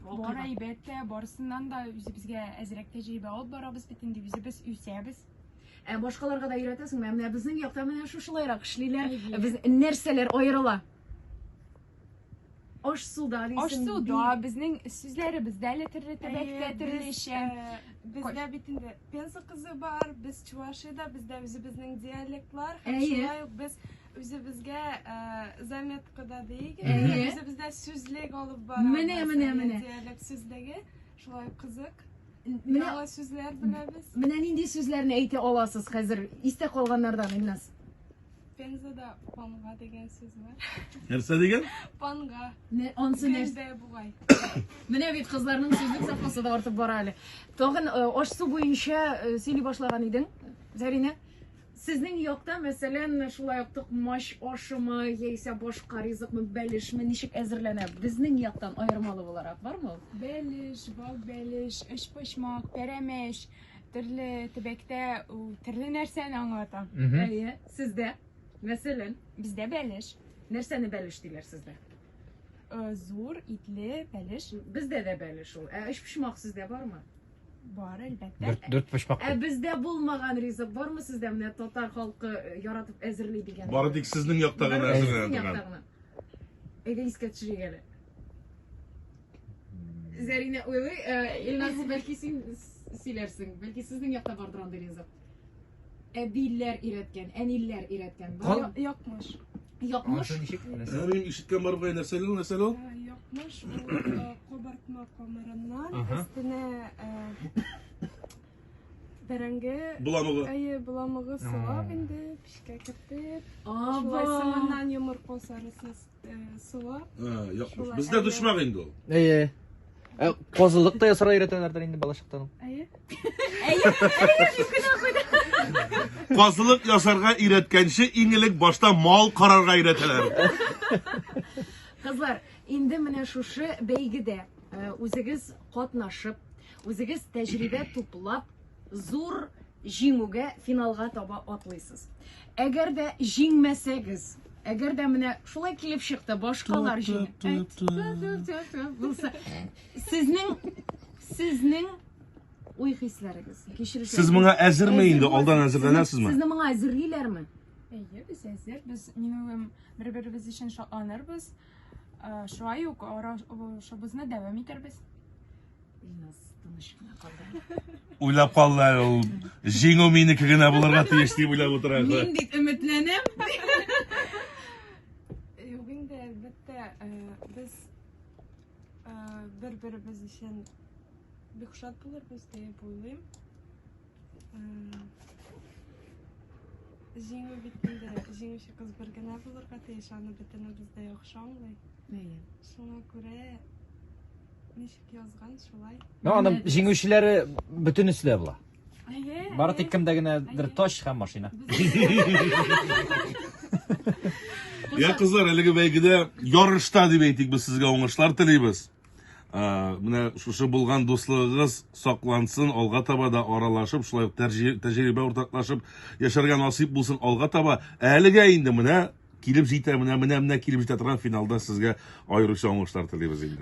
Бар әлбәттә, барысыннан да үзебезгә әзрәк тәҗрибә алып барабыз бит инде, үзебез үсәбез. Ә башкаларга да өйрәтәсеңме? Ә менә безнең якта менә шушылайрак эшлиләр. Ә Без нәрсәләр аерыла? Аш суда дисең. Аш суда безнең сүзләребез дә әле төрле төбәктә төрлечә. Э, бездә бит инде Пенза кызы бар, без Чувашиядә, бездә үзебезнең диалектлар, һәм шулай ук без Үзебезгә э, заметкада дейік. Әйе. Үзебездә сүзлек алып барабыз. Менә, менә, менә. Диалект сүзлеге. Шулай кызык. Менә- Яңа сүзләр беләбез. Менә нинди сүзләрне әйтә аласыз хәзер? Истә калганнардан, Илназ. Пензада панга деген сүз бар. Нәрсә дигән? Панга. Не, ансы нәрсә? Гәндә бугай. Менә бит кызларның сүзлек запасы да артып бара әле. Тагын э, аш-су буенча э, сөйли башлаган идең, Зәринә. Сезнең якта, мәсәлән, шулай ук токмач ашымы яисә башка ризыкмы, бәлешме ничек әзерләнә? Безнең яктан аермалы буларак бармы ул? Бәлеш, вак бәлеш, өчпочмак, пәрәмәч, төрле төбәктә ул төрле нәрсәне аңлата. Әйе, сездә, мәсәлән, Бездә бәлеш, нәрсәне бәлеш диләр сездә? э, зур итле бәлеш. Бездә дә бәлеш ул. Ә өчпочмак сездә бармы? Бар, әлбәттә. Дүрт, дүрт почмак. Ә бездә булмаган ризык бармы сездә? Менә татар халкы э, яратып әзерли дигән. Бары тик сезнең якта гына Бары әзерләнә сезнең торган. яктагына. Әйдә искә төшерик әле. Зәринә, уйлый, э, Илназ, бәлки син с- сөйләрсең. Бәлки сезнең якта бардыр андый ризык. Әбиләр өйрәткән, әниләр өйрәткән. Бу Кал- я- Якмыш. Якмыш. Анысы ничек? Ә мин ишеткән бар бугай нәрсә ул нәрсә ул? Ә, Якмыш ул э, кабартма камырыннан Ага. өстенә э, бәрәңге Буламыгы. Әйе, буламыгы сылап инде, пешкә кертеп, шулай Аба. соңыннан йомырка сарысын Суы. Якмыш. Бездә дошмак инде ул. Әйе. Ә казылык та ясарга өйрәтәләрдер инде балачактан. Әйе. Әйе. Казылык ясарга өйрәткәнче иң элек башта мал карарга өйрәтәләр. Кызлар, инде менә шушы бәйгедә үзегез катнашып, үзегез тәҗрибә туплап, Зур җиңүгә, финалга таба атлыйсыз. Әгәр дә җиңмәсәгез, әгәр дә менә шулай килеп чыкты, башкалар җиңде. Булса, сезнең сезнең уй хисләрегез, кичерешләрегез. Сез моңа әзерме инде? Алдан әзерләнәсезме? Сезне моңа әзерлиләрме? Әйе, без әзер. Без минем бер-беребез өчен шатланырбыз. Шулай ук арашыбызны дәвам итәрбез. Уйлап калдылар ул җиңү минеке генә булырга тиеш дип уйлап утыра. Мин бит өметләнәм. Юк инде әлбәттә э, без э, бер-беребез өчен бик шат булырбыз дип уйлыйм. Җиңү бит инде җиңүче кыз бер генә булырга тиеш, аны бөтенебез дә яхшы аңлый. Әйе. Шуңа күрә ничек язган шулай. Ну, аның җиңүчеләре бөтенесе дә була. Әйе. Бары тик кемдә генәдер тач һәм машина. Я кызлар, әлеге бәйгедә ярышта дип әйтик, без сезгә уңышлар телибез. менә шушы булган дуслыгыгыз саклансын, алга таба да аралашып, шулай ук тәҗрибә уртаклашып яшәргә насыйп булсын алга таба. Әлегә инде менә килеп җитә, менә менә менә килеп җитә торган финалда сезгә аеруча уңышлар телибез инде.